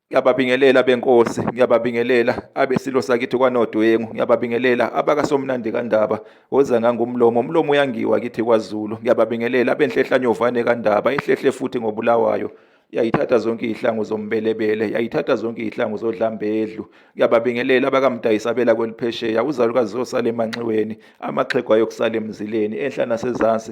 Ngiyababingelela benkosi, ngiyababingelela abesilo sakithi kwanodwengu, ngiyababingelela abakasomnandi kandaba, woza ngangumlomo, umlomo uyangiwa kithi kwaZulu. Ngiyababingelela abenhlehlanyovane kandaba, ihlehle futhi ngobulawayo yayithatha zonke izihlangu zombelebele yayithatha zonke izihlangu zodlambedlu ngiyababingelela abakamdayisabela kweliphesheya uzalukazi zosala emanxiweni amaxhegu ayokusala emzileni enhla nasezansi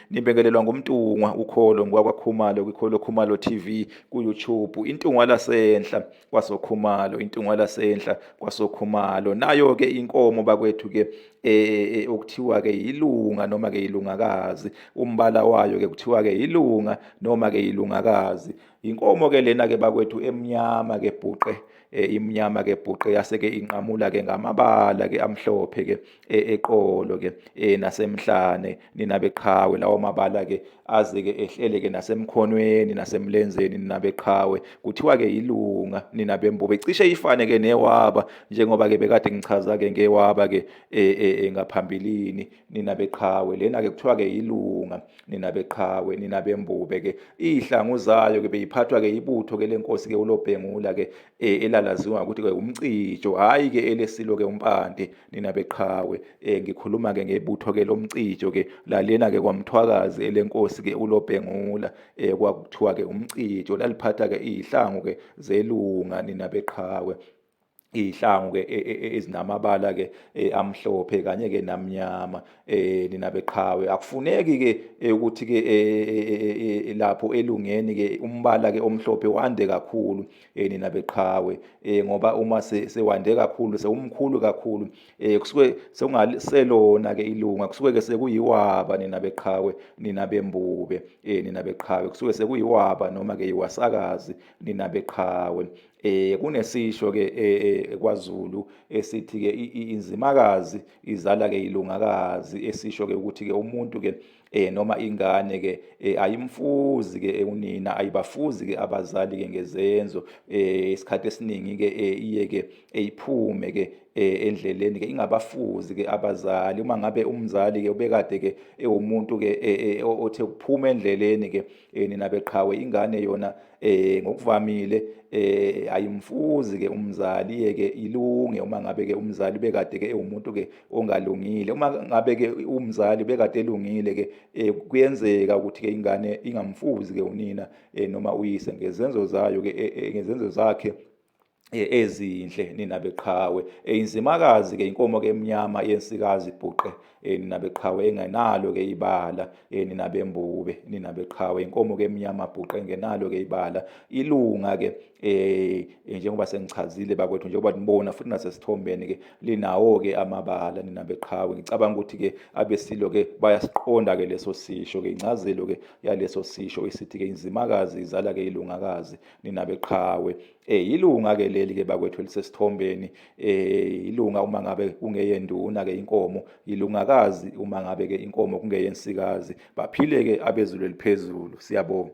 Nibingelelwa ngumntungwa ukholo ngwakwakhumalo kwikholo khumalo TV ku-YouTube intungwa lasenhla kwasokhumalo intungwa lasenhla kwasokhumalo nayo-ke inkomo bakwethu-ke eh okuthiwa-ke yilunga noma-ke yilungakazi umbala wayo-ke kuthiwa-ke yilunga noma-ke yilungakazi Inkomo ke lena ke bakwethu emnyama ke bhuqe eh, imnyama ke bhuqe yase ke inqamula ke ngamabala ke amhlophe ke eh, eqolo ke eh, nasemhlane nina beqhawe lawo mabala ke aze ke ehlele ke nasemkhonweni nasemlenzeni nina beqhawe kuthiwa ke ilunga nina bembobe cishe ifane ke newaba njengoba ke bekade ngichaza ke ngewaba ke ngaphambilini nina beqhawe lena-ke kuthiwa-ke yilunga nina beqhawe nina bembube-ke iy'hlangu zayo-ke beyiphathwa-ke ibutho-ke le nkosi-ke ulobhengula-ke e, elalaziwa ngokuthi-ke umcijo hhayi-ke elesilo-ke umpande nina beqhawe um ngikhuluma-ke ngebutho-ke lomcijo-ke lalena-ke kwamthwakazi elenkosi-ke ulobhengula um kwakuthiwa-ke umcijo laliphatha-ke iy'hlangu-ke zelunga nina beqhawe iy'hlangu ke e, e, e, ezinamabala ke amhlophe kanye ke namnyama eh nina beqhawe akufuneki ke ukuthi ke lapho elungeni ke umbala ke omhlophe wande kakhulu eh nina beqhawe eh ngoba uma sewande kakhulu sewumkhulu kakhulu eh kusuke sekungaselona ke ilunga kusuke ke sekuyiwaba nina beqhawe nina bembube eh nina beqhawe kusuke sekuyiwaba noma ke iwasakazi nina beqhawe Eh kunesisho ke eh, eh, kwaZulu esithi ke inzimakazi izala ke ilungakazi esisho ke ukuthi ke umuntu ke eh noma ingane ke eh, ayimfuzi ke eh, unina ayibafuzi ke abazali ke ngezenzo eh isikhathi esiningi ke iye ke eyiphume ke Eh, endleleni ke ingabafuzi ke abazali uma ngabe umzali ke ubekade ke ewumuntu ke eh, eh, othe ukuphuma endleleni ke nina beqhawe ingane yona eh ngokuvamile eh ayimfuzi ke umzali yeke ilunge uma ngabe ke umzali bekade ke ewumuntu ke ongalungile uma ngabe ke umzali bekade elungile ke eh, kuyenzeka ukuthi ke ingane ingamfuzi ke unina eh, noma uyise ngezenzo zayo ke eh, ngezenzo zakhe eh, ezinhle nina beqhawe eh, inzimakazi ke inkomo ke emnyama yensikazi ibhuqe eh, nina beqhawe engenalo ke ibala nina bembube nina beqhawe inkomo ke emnyama bhuqe engenalo ke ibala ilunga ke eh njengoba sengichazile bakwethu njengoba nibona futhi nasesithombeni ke linawo ke amabala nina beqhawe ngicabanga ukuthi ke abesilo ke bayasiqonda ke leso sisho ke incazelo ke yaleso sisho isithi ke inzimakazi izala ke ilungakazi nina beqhawe Eh yilunga ke leli ke bakwethu elisesithombeni eh yilunga uma ngabe kungeyenduna ke inkomo yilungakazi uma ngabe ke inkomo kungeyensikazi baphile ke abezulu eliphezulu siyabonga